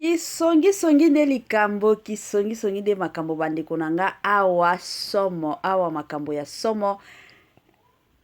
kisongisongi nde likambo kisongisongi nde makambo bandeko na nga awa somo awa makambo ya somo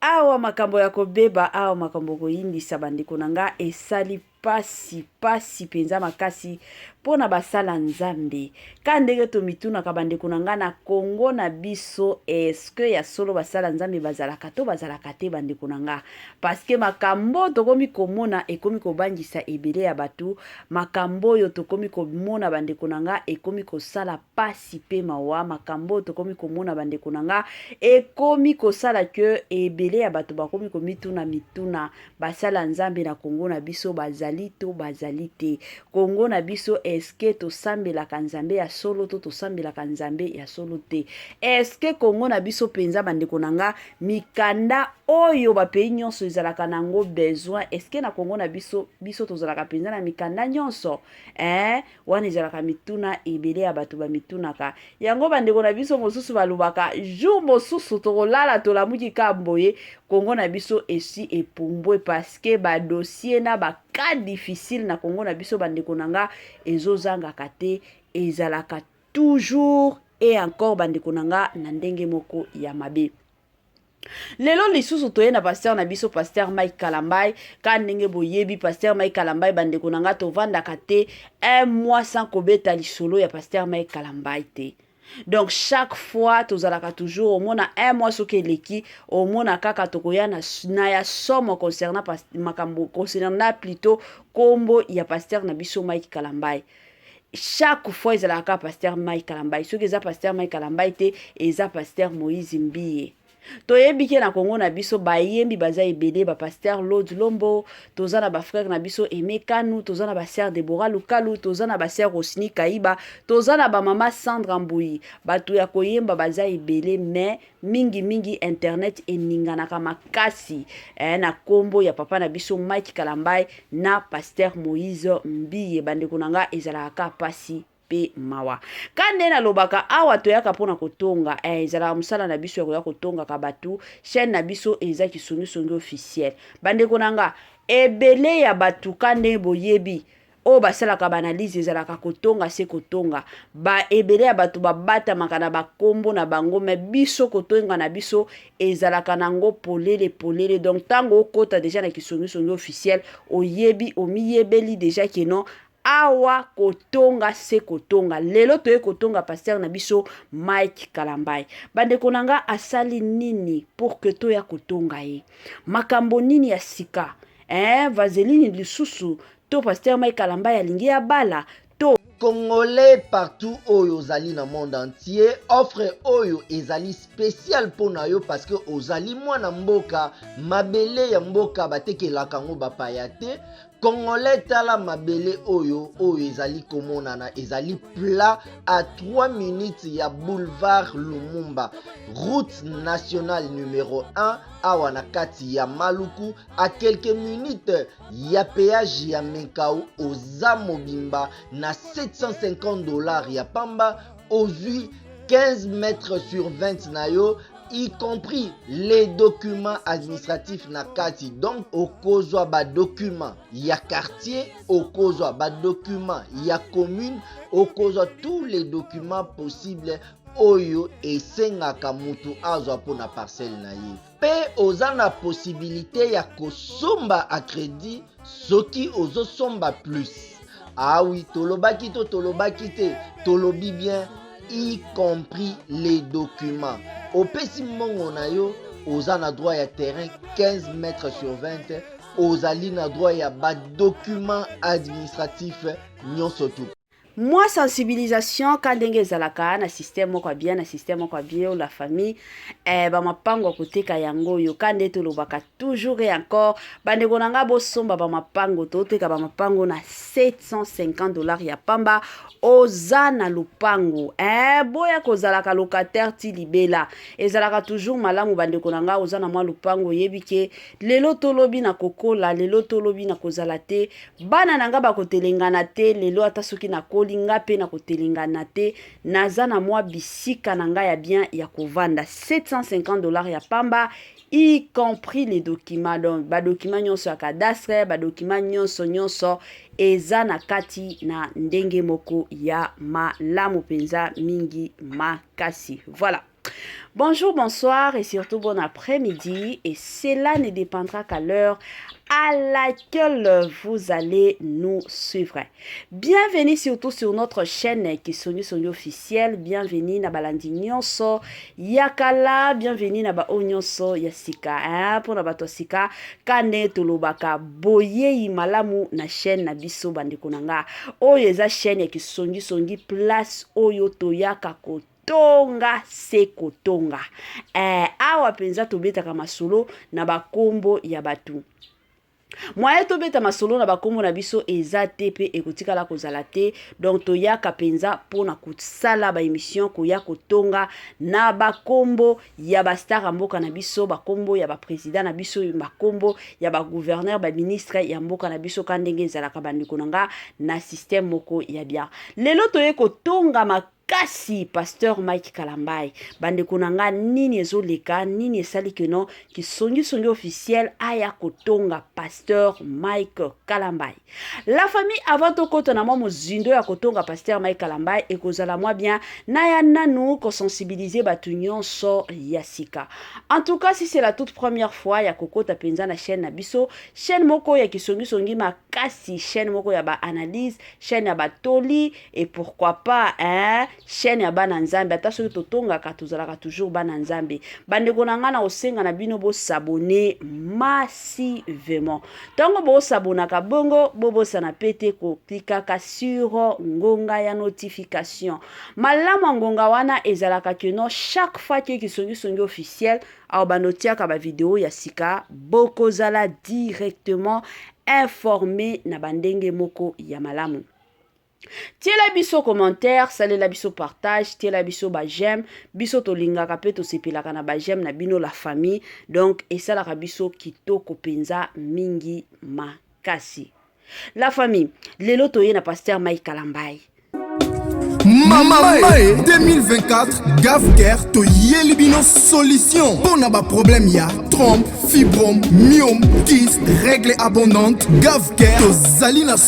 Awa makambo ya kobeba, awa makambo koyimbisa bandeko na nga esali pasi pasi mpenza makasi mpo na basala Nzambe. Ka ndenge tomitunaka bandeko na nga na Congo na biso, eske ya solo basala Nzambe bazalaka to bazalaka te bandeko na nga? Paske makambo tokomi komona ekomi kobangisa ebele ya bato, makambo oyo tokomi komona bandeko na nga ekomi kosala pasi pe mawa makambo oyo tokomi komona bandeko na nga ekomi kosala ke ebele ya bato bakomi komituna mituna basala nzambe na kongo na biso bazali to bazali te kongo na biso eske tosambelaka nzambe ya solo to tosambelaka nzambe ya solo te eske kongo na biso mpenza bandeko na nga mikanda oyo bapei nyonso ezalaka na yango besoin eske na kongo na biso biso tozalaka mpenza na mikanda nyonso eh? wana ezalaka mituna ebele ya bato bamitunaka yango bandeko na biso mosusu balobaka jour mosusu tokolala tolamuki ka boye kongo na biso esi epumbwe paske badossier na baka difficile na kongo na biso bandeko na nga ezozangaka te ezalaka toujours e encore bandeko na nga na ndenge moko ya mabe lelo lisusu toye na pasteur na biso pasteur mike kalambai ka ndenge boyebi pasteur mike kalambai bandeko na ngai tovandaka te un mois sans kobeta lisolo ya pasteur mike kalambai te donc chaque fois tozalaka toujours omona un mois soki eleki omona kaka tokoya na, na ya somo concernant makambo concernant plutôt kombo ya pasteur na biso mike kalambai chaque fois ezalaka kaka pasteur mai kalambai soki eza pasteur mai kalambai te eza pasteur moïse mbiye toyebi ke na kongo na biso bayembi baza ebele bapasteur lod lombo toza na bafrère na biso aime kanu toza na basere debora lukalu toza na basere osini kaiba toza na bamama sandra mbui bato ya koyemba baza ebele mais mingi mingi internet eninganaka makasi eh, na kombo ya papa na biso Mike Kalambaye na pasteur Moïse Mbiye bandeko na nga ezalaka ka pasi pe mawa ka nde nalobaka awa toyaka mpona kotonga eh, ezalaka mosala na biso ya koya kotongaka bato chaîne na biso eza kisongisongi officiel bandeko na nga ebele ya bato ka nde boyebi oyo basalaka baanalyse ezalaka kotonga se kotonga ba ebele ya bato babatamaka na bakombo na bango me biso kotonga na biso ezalaka nango polele polele donc ntango okota deja na kisongisongi officiel oyebi omiyebeli deja keno awa kotonga se kotonga lelo toye kotonga pasteur na biso mike kalambai bandeko na nga asali nini pour que toya kotonga ye makambo nini ya sika eh, vaseline lisusu To pasteur Mike Kalambay alingi abala to. Congolais partout oyo ozali na monde entier, offre oyo ezali spécial mpo na yo parce que ozali mwana mboka, mabele ya mboka batekelaka yango bapaya te. Congolais tala mabele oyo oyo ezali komonana ezali plat à 3 minutes ya boulevard Lumumba, route nationale numero 1 awa na kati ya Maluku, à quelques minutes ya peage ya menkau oza mobimba na 750 dollars ya pamba ozwi 15 mètres sur 20 na yo y compris les documents administratifs na kati donc okozwa badocument ya quartier okozwa badocument ya commune okozwa tous les documents possibles oyo esengaka moto azwa mpo na parcelle na ye mpe oza na posibilite ya kosomba a credit soki ozosomba plus awi ah tolobaki to tolobaki te tolobi bien y compris les documents opesi mbongo na yo oza na droit ya terrain 15 mètre sur 20 ozali na droit ya badocument administratif nyonso tu mwa sensibilisation ka ndenge ezalaka na système moko ya bien na système moko ya bien la famille eh, bamapango ya koteka yango oyo ka nde tolobaka toujours et encore bandeko na ngai bosomba bamapango toteka bamapango na 750 dollars ya pamba oza na lopango eh, boya kozalaka locataire ti libela ezalaka toujours malamu bandeko na ngai oza na mwa lopango oyebi ke lelo tolobi na kokola lelo tolobi na kozala te bana na nga bakotelengana te lelo ata soki nakoli nga mpe nakotelengana te naza na mwa bisika na nga ya bien ya kovanda 750 dollars ya pamba y compris les documents donc badokima nyonso ya cadastre badokima nyonso nyonso eza na kati na ndenge moko ya malamu mpenza mingi makasi voilà Bonjour, bonsoir et surtout bon après-midi. Et cela ne dépendra qu'à l'heure à laquelle vous allez nous suivre. Bienvenue surtout sur notre chaîne qui Sony Sony officiel. Bienvenue na balandi nyonso yakala. Bienvenue na ba nyonso ya sika. Hein? Pour na bato sika kane tolobaka boyeyi malamu na chaîne na biso bandeko na nga. Oyo eza chaîne ya kisongi songi place oyo toyaka kote tonga se kotonga. Eh, awa mpenza tobetaka masolo na bakombo ya bato. Mwaye tobeta masolo na bakombo na biso eza te mpe ekotikala kozala te. Donc toyaka mpenza mpo na kosala baemission, koya kotonga na bakombo ya bastar ya mboka na biso, bakombo ya bapresident na biso, bakombo ya bagouverneur, baministre ya mboka na biso, ka ndenge ezalaka bandeko na nga na systeme moko ya bien. Lelo toye kotonga kasi pasteur mike kalambai bandeko na nga nini ezoleka nini esali keno kisongisongi officiel aya kotonga pasteur mike kalambai la famille avant tokota na mwa mozindo ya kotonga pasteur mike kalambai ekozala mwa bien na ya nanu kosensibilize bato nyonso ya sika en tout cas si c'est la toute première fois ya kokota mpenza na chaîne na biso chaîne moko ya kisongisongi makasi chaîne moko ya baanalyse chaîne ya batoli et pourquoi pas hein, chaîne ya bana nzambe ata soki totongaka tozalaka toujours bana nzambe bandeko na ngai na kosenga na bino bosabone massivement ntango bosabonaka bongo bobosana mpe te koklikaka sur ngonga ya notification malamu ya ngonga wana ezalaka keno chaque fois ke kisongisongi officiel awa bando otiaka bavideo ya sika bokozala directement informe na bandenge moko ya malamu tiela biso commentaire salela biso partage tiela biso ba j'aime biso tolingaka mpe tosepelaka na ba j'aime na bino la famille donc esalaka biso kitoko mpenza mingi makasi la famille lelo toye na pasteur mai kalambai mama mae 2024 gafker toyeli bino solution mpo na baproblème ya trompe fibrome miome kiste règle abondante gafker tozali na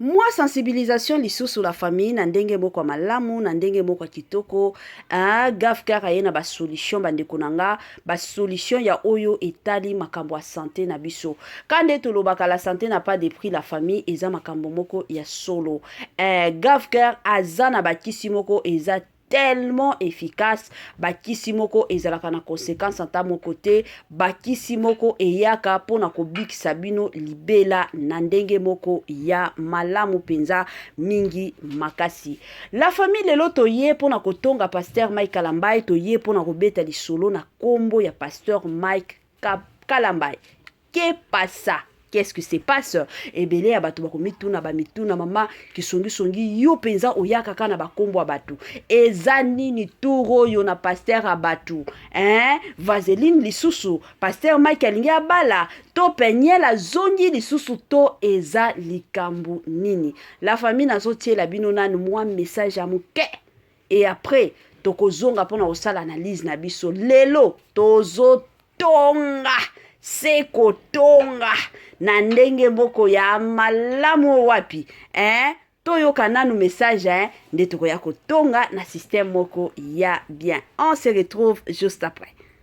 Mwa sensibilisation lisusu la famille na ndenge moko ya malamu na ndenge moko ya kitoko ah, gafkar aye na basolution bandeko na nga basolution ya oyo etali makambo ya sante na biso ka nde tolobaka la sante na pas de prix la famille eza makambo moko ya solo eh, gafkar aza na bakisi moko eza tellement efficace bakisi moko ezalaka na conséquence ata moko te bakisi moko eyaka mpo na kobikisa bino libela na ndenge moko ya malamu mpenza mingi makasi la famille lelo toye mpo na kotonga pasteur mike kalambai toye mpo na kobeta lisolo na nkombo ya pasteur mike kalambai que pasa qu'est-ce qui se passe ebele ya bato bakomituna bamituna mama kisongisongi yo mpenza oyaka kaka na bakombo ya bato eza nini tour oyo na paster ya bato eh? vaseline lisusu paster mike alingi abala to peniel azongi lisusu to eza likambo nini la famille nazotiela bino nanu mwa message ya moke et après tokozonga mpo na kosala analyse na biso lelo tozotonga se kotonga na ndenge moko ya malamu wapi eh? toyoka nanu message eh? nde tokoya kotonga na système moko ya bien on se retrouve juste après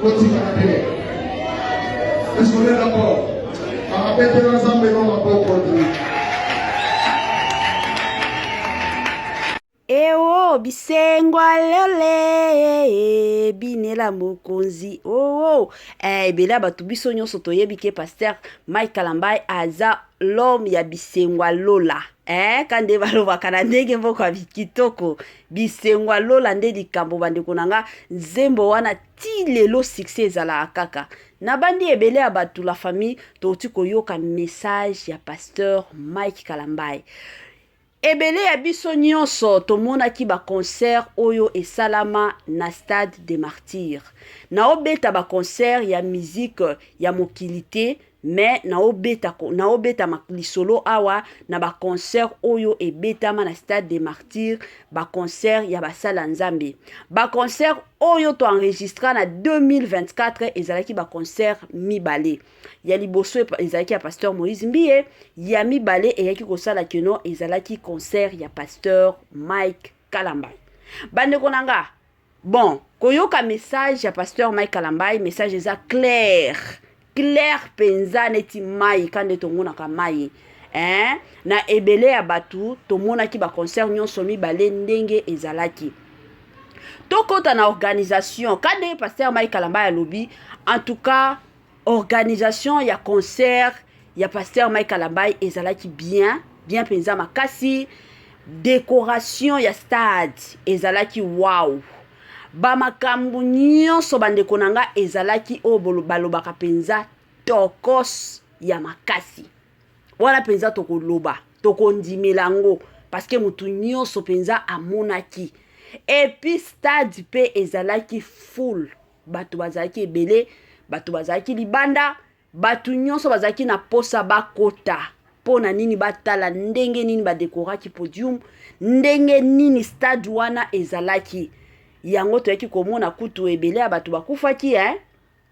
kotikana te esolela po bakabetela nzambe no maboko ewo bisengwa lole binela mokonzi oo eh, ebele ya bato biso nyonso toyebi ke paster mike kalambai aza l'homme ya bisengwa lola eh, ka nde balobaka na ndenge moko ya kitoko bisengo ya lola nde likambo bandeko na nga nzembo wana ti lelo succès ezalaka kaka nabandi ebele ya bato la famille touti koyoka message ya pasteur mike kalambai ebele ya biso nyonso tomonaki baconcert oyo esalama na stade de martyr naobeta baconcert ya mizike ya mokili te mais naobeta naobeta lisolo awa na ba concert oyo ebetama na stade de martyr ba concert ya basala nzambe ba concert oyo to enregistra na 2024 ezalaki ba concert mibale ya liboso ezalaki ya pasteur moïse mbiye ya mibale eyaki kosala keno ezalaki concert ya pasteur mike kalambay bandeko na nga Bon, koyoka message ya pasteur Mike Kalambay, message eza clair. Clair penza neti mai kande tongonaka mai. Hein? Na ebele ya batu tomonaki ba concert nyonso mibale ndenge ezalaki. Tokota na organisation kande pasteur Mike Kalambay alobi en tout cas organisation ya concert ya pasteur Mike Kalambay ezalaki bien bien mpenza makasi decoration ya stade ezalaki wow bamakambo nyonso bandeko na nga ezalaki oyo balobaka mpenza tokos ya makasi wana mpenza tokoloba tokondimela yango parceke motu nyonso mpenza amonaki epuis stade mpe ezalaki full bato bazalaki ebele bato bazalaki libanda bato nyonso bazalaki na mposa bakota mpo na nini batala ndenge nini badekoraki podium ndenge nini stade wana ezalaki yango toyaki komona kutu ebele ya bato bakufaki eh?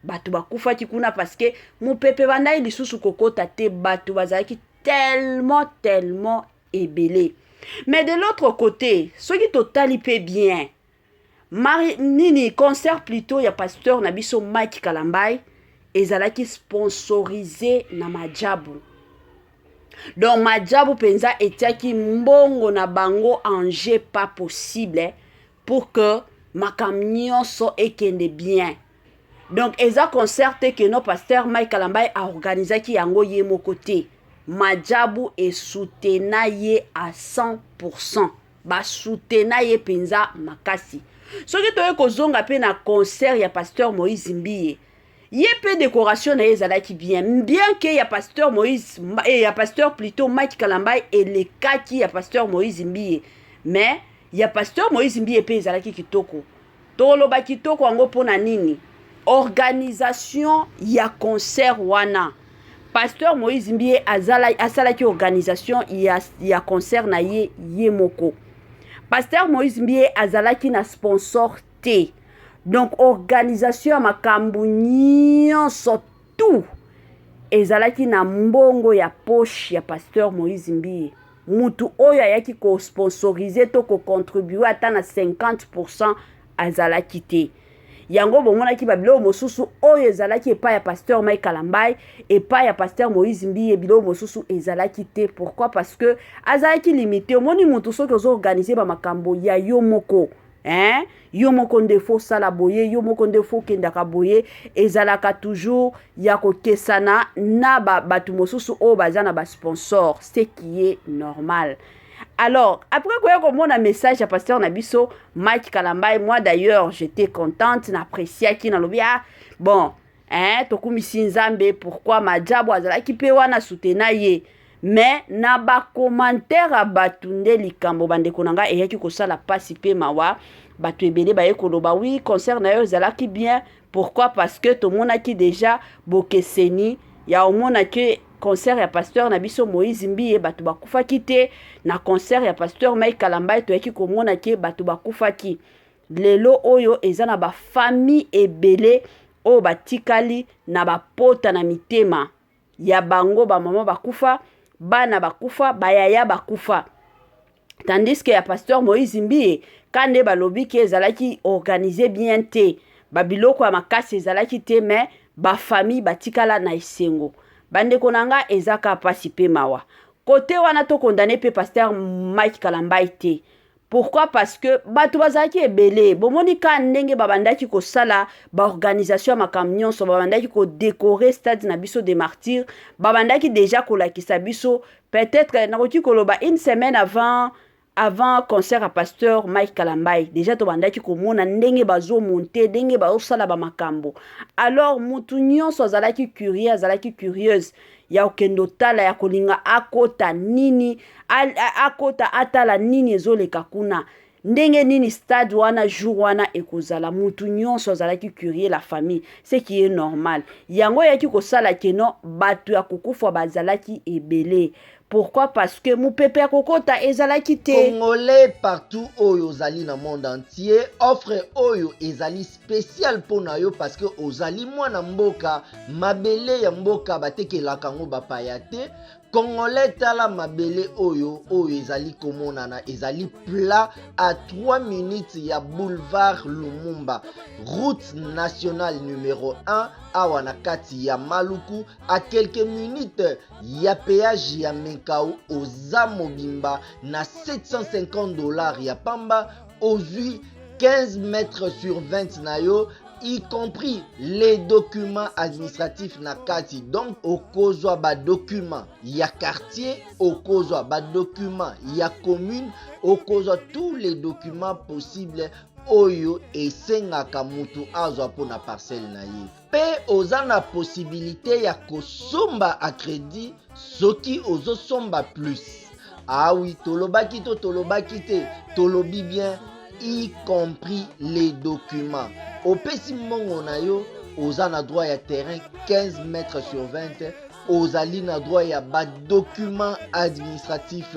bato bakufaki kuna parceke mopepe bandaki lisusu kokota te bato bazalaki tellement tellement ebele mais de l'autre côté soki totali mpe bien Mari, nini concert plutot ya pasteur na biso Mike Kalambay ezalaki sponsorise na Majabu. Donc Majabu penza etiaki mbongo na bango en jeu pas possible pour que makambo nyonso ekende bien. Donc eza concert te que no pasteur Mike Kalambay a organisaki yango ye moko te. Majabu esutena ye à 100%. basutena ye mpenza makasi soki toye kozonga mpe na concert ya pasteur moïse mbiye ye mpe décoration na ye ezalaki bien bien ke ya pasteur moïse eh, ya pasteur plutôt mike kalambai elekaki ya pasteur moïse mbiye mais ya pasteur moïse mbiye mpe ezalaki kitoko Toloba kitoko yango mpo na nini? Organisation ya concert wana pasteur Moïse Mbiye azala asalaki organisation ya, ya concert na ye ye moko. Pasteur Moïse Mbiye azalaki na sponsor te. Donc organisation ya makambo nyonso tout ezalaki na mbongo ya poche ya pasteur Moïse Mbiye. mutu oyo ayaki ko sponsoriser to ko contribuer ata na 50% azalaki te yango bomonaki babiloko mosusu oyo ezalaki epai ya pasteur mai kalambai epai ya pasteur moïse mbiye biloko mosusu ezalaki te pourquoi parce que azalaki limite omoni motu soki ozoorganize bamakambo ya yo moko hein yo moko nde fo sala boye yo moko nde fo kendaka boye ezalaka toujours ya kokesana na ba bato mosusu oyo baza na ba sponsor ce qui est normal alors après koya komona message ya pasteur na biso mike kalambai moi d'ailleurs j'étais contente na appréciaki nalobi ah bon eh, tokumisi nzambe pourkui majabo azalaki mpe wana sutena ye me na bakomantere ya bato nde likambo bandeko na ngai eyaki kosala mpasi mpe mawa bato ebele baye koloba wi concert na yo ezalaki bien pourquoi parce que tomonaki deja bokeseni ya omona ke concert ya pasteur na biso moïse mbiye bato bakufaki te na concert ya pasteur mai kalambai toyaki komona ke bato bakufaki lelo oyo eza na ba famille ebele oyo batikali na bapota na mitema ya bango bamama bakufa bana bakufa bayaya bakufa tandis que ya pasteur moïse mbiye ka nde balobi ke ezalaki organise bien te babiloko ya makasi ezalaki te me bafamille batikala na esengo bandeko na nga eza ka mpasi mpe mawa kote wana tokondane mpe pasteur mike kalambai te Pourquoi? Parce que bato bazalaki ebele. Bomoni ka ndenge babandaki kosala baorganisation ya makambo nyonso, babandaki kodekore stade na biso de martyrs, babandaki deja kolakisa biso peut-être nakoki koloba une semaine avant avant concert ya pasteur mike kalambai deja tobandaki komona ndenge bazomonte ndenge bazosala bamakambo alors motu nyonso azalaki curie azalaki curieuse ya okende otala ya kolinga akota nini akota atala nini ezoleka kuna ndenge nini stade wana jour wana ekozala mutu nyonso azalaki curie la famille ce qui est normal yango eyaki kosala keno bato ya kokufa bazalaki ebele pourquoi parce que mopepe ya kokota ezalaki te congolais partout oyo ozali na monde entier offre oyo ezali special mpo na yo parce que ozali mwana mboka mabele ya mboka batekelaka yango bapaya te congolais tala mabele oyo oyo ezali komonana ezali plat à 3 minutes ya boulevard lumumba route nationale numero 1 awa na kati ya maluku a quelques minutes ya peage ya menkau oza mobimba na 750 dollars ya pamba ozwi 15 mètres sur 20 na yo y compris les documents administratifs na kati donc okozwa badocument ya quartier okozwa badocument ya commune okozwa tous les documents possibles oyo esengaka moto azwa mpo na parcelle na ye mpe oza na posibilite ya kosomba a credit soki ozosomba plus awi ah tolobaki to tolobaki te tolobi bien y compris les documents opesi mbongo na yo oza na droit ya terrain 15 mètres sur 20 ozali na droit ya badocument administratif